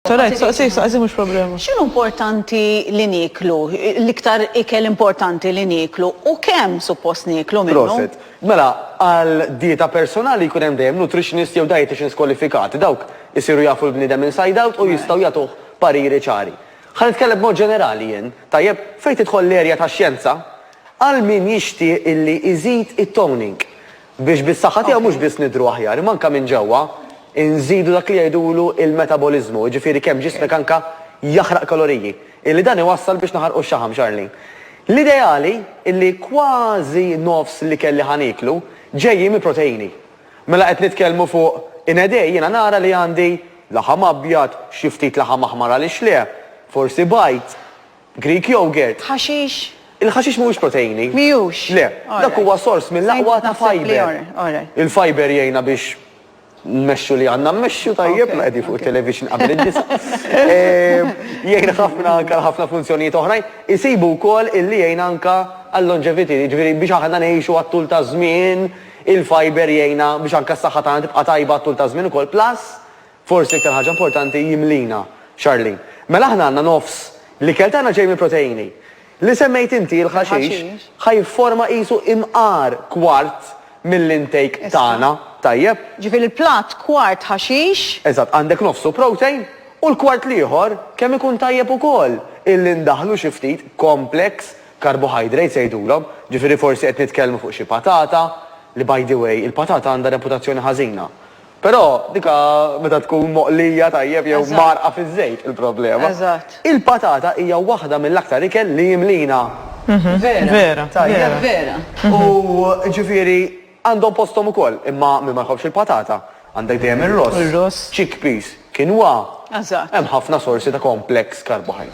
Sorajt, soqsi, soqsi mhux problema. X'inhu importanti li nieklu? L-iktar ikel importanti li nieklu u kemm suppost nieklu minnu? Proset. Mela, għal dieta personali jkun hemm dejjem nutritionist jew dieticians kwalifikati. Dawk isiru jafu l-bniedem inside out u jistgħu jagħtuh pariri ċari. Ħa nitkellem b'mod ġenerali jien, tajjeb? Fejn tidħol l-erja tax-xjenza, għal min jixtieq illi iżid it-toning. Biex bis-saħħa tiegħu mhux biss nidhru aħjar, imma anke minn ġewwa nżidu dak li jgħidulu l-metaboliżmu, jiġifieri kemm ġismek anke jaħraq kaloriji, illi dan iwassal biex naħarqu x-xaħam, Charlene. L-ideali illi kważi nofs l-ikel li ħa nieklu ġejjin mill-proteini. Mela qed nitkellmu fuq inedej jiena nara li għandi laħam abjad, xi ftit laħam aħmar għaliex le, forsi bajd, Greek yogurt. Ħaxix? Il-ħaxix mhuwiex proteini. Mhijux? Le. Dak huwa sors mill-aqwa ta' fiber. Il-fiber jgħinna biex nmexxu li għandna mmexxu tajjeb, qegħdin fuq it-television qabel id-disgħa. Jgħin ħafna anke għal ħafna funzjonijiet oħrajn. Isibu wkoll illi jgħin anke għall-longevity, jiġifieri biex aħna ngħixu għat-tul taż-żmien, il-fiber jgħinna biex anke s-saħħa tagħna tibqa' tajba għat-tul taż-żmien ukoll. Plus, Forsi l-iktar ħaġa importanti jimlina, Charlene. Mela aħna għandna nofs l-ikel tagħna ġej mill-proteini. Li semmejt inti, il-ħaxix, ħa jifforma qisu imqar kwart mill-intake tagħna, tajjeb? Ġifieri l-platt kwart ħaxix. Eżatt, għandek nofsu protein u l-kwart l-ieħor kemm ikun tajjeb ukoll illi ndaħħlu xi ftit complex carbohydrates jgħidulhom, ġifieri forsi qed nitkellmu fuq xi patata, li by the way il-patata għandha reputazzjoni ħażina. Però dika meta tkun moqlija tajjeb jew mgħarrqa fiż-żejt il-problema. Eżatt. Il-patata hija waħda mill-aktar ikel li jimlina. Vera. Vera. Tajjeb. Vera. U ġifieri għandhom posthom ukoll, imma min ma jħobbx il-patata, għandek dejjem ir-ross. Ir-ross. Chickpeas, quinoa. Eżatt. Hemm ħafna sorsi ta' complex carbohydrate.